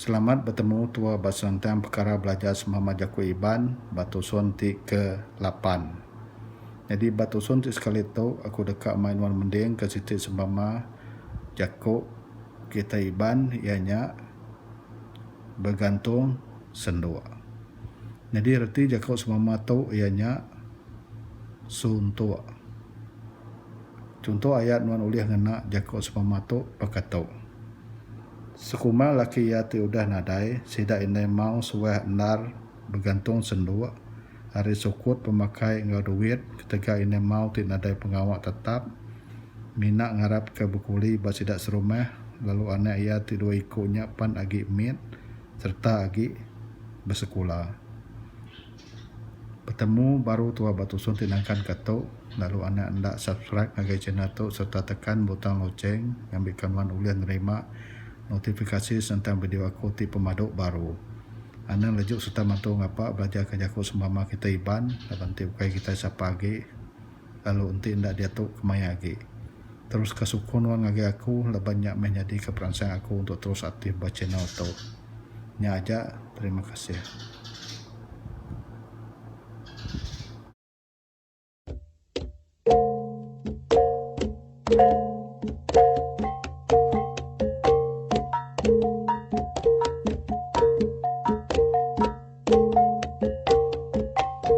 Selamat betemu tua ba senentang pekara belajar semama jaku Iban ba tusun ti ke lapan. Nyadi ba tusun ti sekali tu aku deka mai nuan mending ka siti semama jaku kitai Iban iya nya begantung senduk. Nyadi reti jaku semama tu iya nya suntuk. Chunto ayat nuan ulih ngena jaku seumpama tu baka tu. Sekumbang laki iya ti udah nadai, sida indai mau suah endar begantung senduk ari sukut pemakai enggau duit ketegal indai mau ti nadai pengawa tetap mina ngarapka bekuli ba sida serumah lalu anak iya ti dua iku nya pan agi mit sereta agi besekula. Betemu baru tua ba tusung ti nangkan ka tu lalu anak enda subscribe ngagai channel tu serta tekan butang loceng ngambi ka nuan ulih nerima notifikasi sentang video aku ti pemadu baru. Anang leju serta mantu ngapa belajar ka jaku sembama kitai Iban laban ti ukai kitai sapa agi. Lalu enti enda diatu kemaya agi. Teruska sukung nuan ngagai aku laban nya meh nyadika peransang aku untuk terus aktif ba channel tu. Nya aja terima kasih.